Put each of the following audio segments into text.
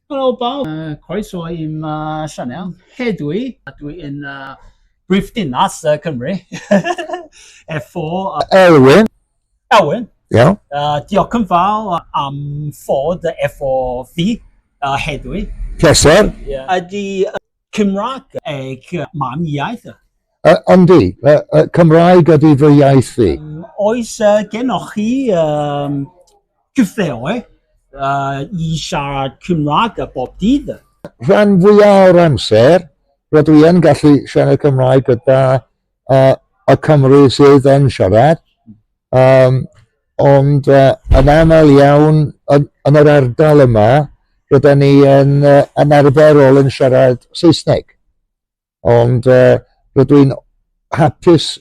Helo bawb, croeso i'm uh, sianel. Hedwi, dwi yn uh, brif dinas uh, Cymru. Efo... Uh, Elwyn. Elwyn. Iawn. Yeah. Uh, diolch yn fawr am fod efo fi uh, hedwi. Pleser. Yeah. Ydy... Uh, Cymraeg eich mam iaith? Uh, yndi, uh, uh, Cymraeg ydy fy iaith fi. Um, oes uh, genoch chi um, cyfleoedd uh, i siarad Cymraeg a bob dydd? Rhan fwyaf o'r amser, rydw i yn gallu siarad Cymraeg gyda uh, y Cymru sydd yn siarad. Um, Ond uh, yn aml iawn yn, yn yr ardal yma, rydyn ni yn, uh, yn arferol yn siarad Saesneg. Ond uh, rydw i'n hapus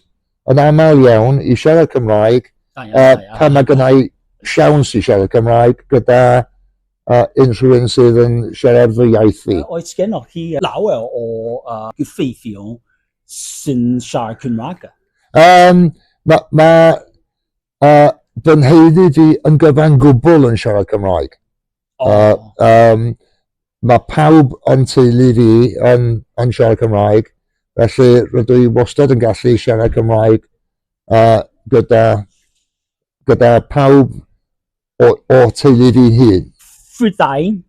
yn aml iawn i siarad Cymraeg uh, pan mae gennau siawns i siarad Cymraeg gyda uh, unrhyw un sydd yn siarad fy iaith fi. Oes gennych chi lawer o uh, gyffeithiol sy'n siarad Cymraeg? Um, mae ma uh, fy nheulu fi yn gyfan gwbl yn siarad Cymraeg. Oh. Uh, um, mae pawb yn teulu fi yn, yn siarad Cymraeg, felly rydw i wastad yn gallu siarad Cymraeg uh, gyda, gyda pawb o, o teulu fi'n hun. Prydain,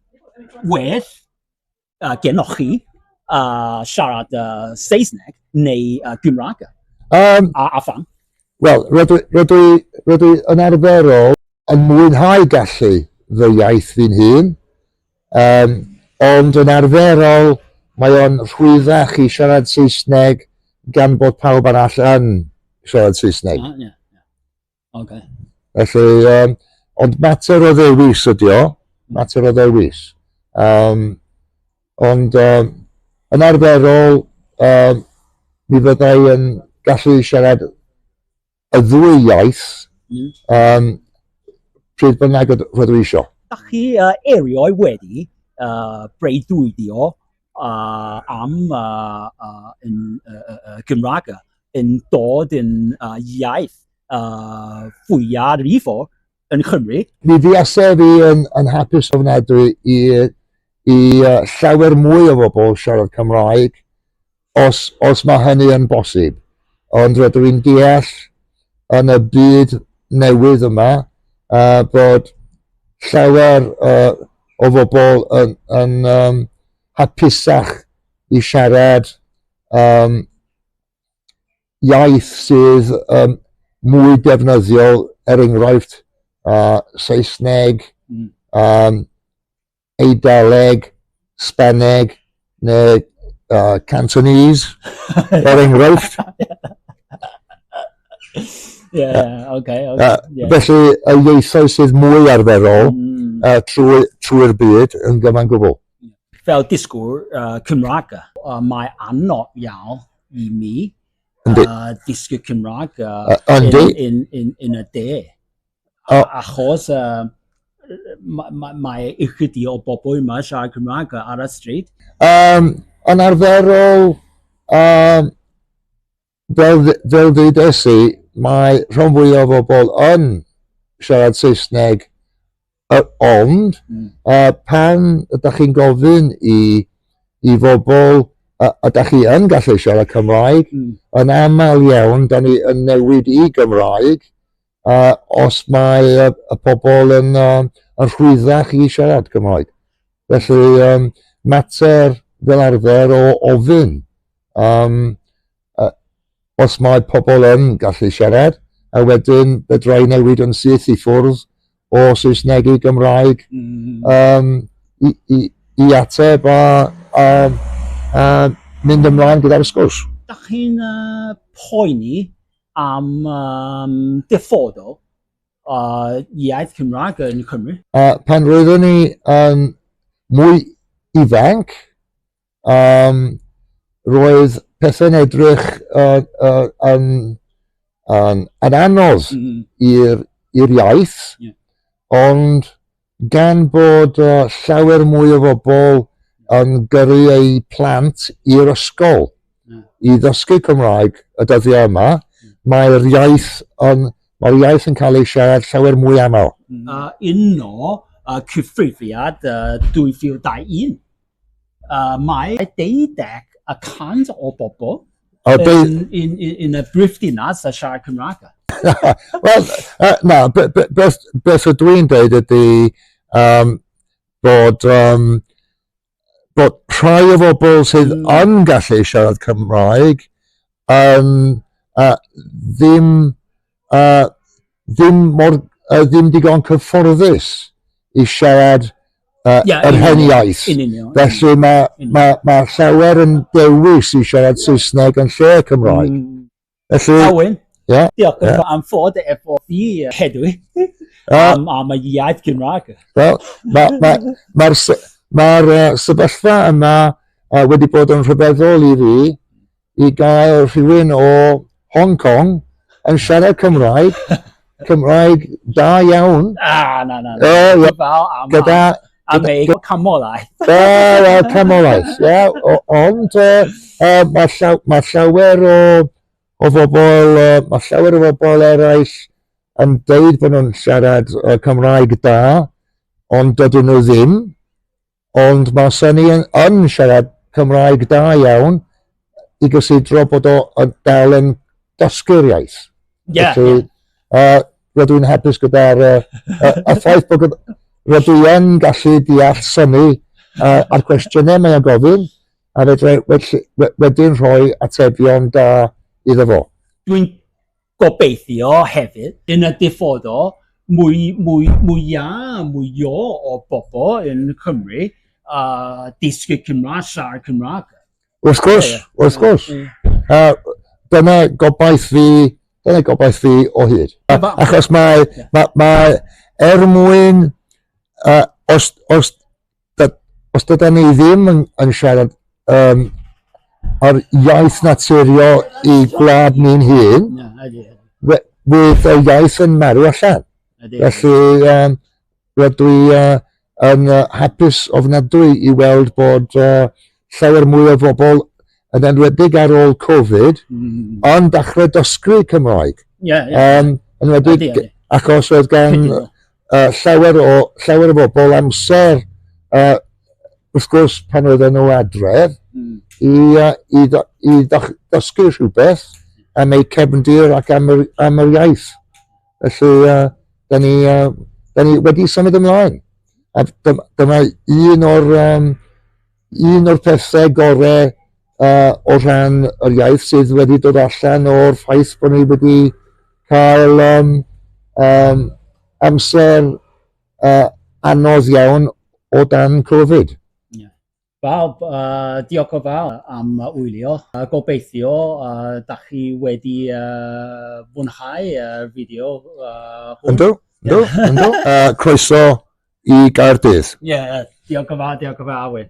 well, uh, genoch chi uh, siarad uh, Saesneg neu uh, Gymraeg? Um, a, a fan? Wel, rydw, rydw, rydw yn arferol yn mwynhau gallu fy iaith fi'n hun, um, ond yn arferol mae o'n rhwyddach i siarad Saesneg gan bod pawb arall yn siarad Saesneg. Ah, yeah. Okay. Felly, um, ond mater o ddewis ydi o, mater o ddewis. Um, ond um, yn arferol, um, mi fyddai yn gallu siarad y ddwy iaith mm. um, pryd bynnag rydw i eisiau. Da chi uh, erioed wedi uh, breuddwydio uh, am uh, uh, yn, uh, uh, Gymraeg yn dod yn uh, iaith uh, fwyaf rifo yn Cymru. Mi fi asef i yn, yn hapus ofnadwy i, i uh, llawer mwy o bobl siarad Cymraeg os, os mae hynny yn bosib. Ond rydw i'n deall yn y byd newydd yma, a bod llawer uh, o bobl yn, yn um, hapusach i siarad um, iaith sydd um, mwy defnyddiol, er enghraifft, uh, Saesneg, mm. um, Eidaleg, Spaneg, neu uh, Cantonese, er enghraifft. yeah, yeah, okay, okay, uh, yeah. Felly, y ieithoedd sydd mwy arferol mm. uh, trwy'r trwy byd yn gyfan gwbl. Fel disgwyl uh, Cymraeg, uh, mae anodd iawn i mi uh, disgwyl Cymraeg uh, uh, in, in, in, in a day. O. Achos uh, mae ma, ma ychydig o bobl yma siarad Cymraeg ar y stryd? Um, yn arferol, um, fel, fel ddwedes i, mae rhan fwy o bobl yn siarad Saesneg uh, ond mm. uh, pan ydych chi'n gofyn i, i bobl uh, ydych chi yn gallu siarad Cymraeg, mm. yn aml iawn, da ni yn newid i Gymraeg, uh, os mae uh, y pobl yn, um, yn rhwyddach i siarad Cymraeg. Felly, um, mater fel arfer o ofyn um, uh, os mae pobl yn gallu siarad, a wedyn fedrai newid yn syth i ffwrdd o Saesneg i Gymraeg um, i, i, i ateb a, a, a mynd ymlaen gyda'r sgwrs. Da chi'n uh, poeni am um, dyfodol uh, iaith Cymraeg yn Cymru? Uh, pan roeddwn ni um, mwy ifanc, um, roedd pethau'n edrych uh, uh, yn, yn, yn anodd mm -hmm. i'r iaith, yeah. ond Gan bod llawer mwy o bobl yn gyrru eu plant i'r ysgol i ddysgu Cymraeg y dyddiau yma, mae'r iaith yn, mae'r iaith yn cael ei siarad llawer mwy aml. Yno, cyfrifiad 2021. Uh, mae 11% o bobl oh, yn, in, in, in y brifddinas a siarad Cymraeg. Wel, uh, na, beth o dwi'n dweud ydy um, bod, um, bod rhai o bobl sydd mm. yn gallu siarad Cymraeg um, uh, ddim uh, ddim, mor, uh, ddim digon cyfforddus i siarad uh, yeah, yr hen iaith. Felly mae ma, ma llawer yn dewis i siarad Saesneg yn lle Cymraeg. Mm. Felly... Awen. Yeah. Diolch yeah. am fod efo fi hedwi am, am y iaith Gymraeg. Wel, mae'r ma, ma, ma, ma uh, sefyllfa yma uh, wedi bod yn rhyfeddol i fi i gael rhywun o Hong Kong yn siarad Cymraeg, Cymraeg da iawn. Ah, na, na, na. Oh, yeah. Fel am gyda, a me, camolaeth. Wel, oh, camolaeth, ie. Yeah. Ond uh, uh, mae llaw, ma llawer o, o bobl, uh, mae llawer o bobl eraill yn deud bod nhw'n siarad uh, Cymraeg da, ond dydyn nhw ddim. Ond mae Sonny yn, yn siarad Cymraeg da iawn i gysidro bod o yn dal yn dysgu'r iaith. Yeah, Felly, yeah. Uh, rydw i'n hapus gyda'r uh, uh, y ffaith bod rydw i'n gallu deall syni uh, a'r cwestiynau mae'n gofyn a fedra wedyn rhoi atebion da iddo fo. Dwi'n Gobeithio hefyd, yn y dyfodol, mwy, mwy, mwy a mwy o bobl yn Cymru a dysgu Cymraeg, siarad Cymraeg. Wrth gwrs, wrth gwrs. Uh, dyna gobaith fi, dyna gobaith fi o hyd. Achos mae, mae, mae er mwyn, uh, os, os os dyda ni ddim yn, yn siarad um, ar iaith naturiol i gwlad ni'n hun, fydd y iaith yn marw allan. Felly, um, rydw i uh, yn uh, hapus ofnadwy i weld bod uh, llawer mwy o bobl yn enwedig ar ôl Covid mm. yn dechrau dysgu Cymraeg. Yeah, yeah. Um, enwedig yeah, yeah. achos oedd gan uh, llawer, o, llawer o bobl amser, uh, wrth gwrs pan oedd nhw adref, mm. i, uh, i, i, i dysgu rhywbeth am eu cefndir ac am yr, am yr iaith. Felly, uh, da ni, uh, da ni wedi symud ymlaen. A dyma un o'r um, un o'r pethau gorau uh, o ran yr iaith sydd wedi dod allan o'r ffaith bod ni wedi cael um, um, amser uh, anodd iawn o dan Covid. Yeah. Bob, uh, diolch o fawr am wylio. Uh, gobeithio, uh, da chi wedi uh, fwynhau y uh, fideo uh, hwn. Ynddo, ynddo, ynddo. uh, croeso i Gaerdydd. Ie, yeah, diolch o fawr, diolch o fawr.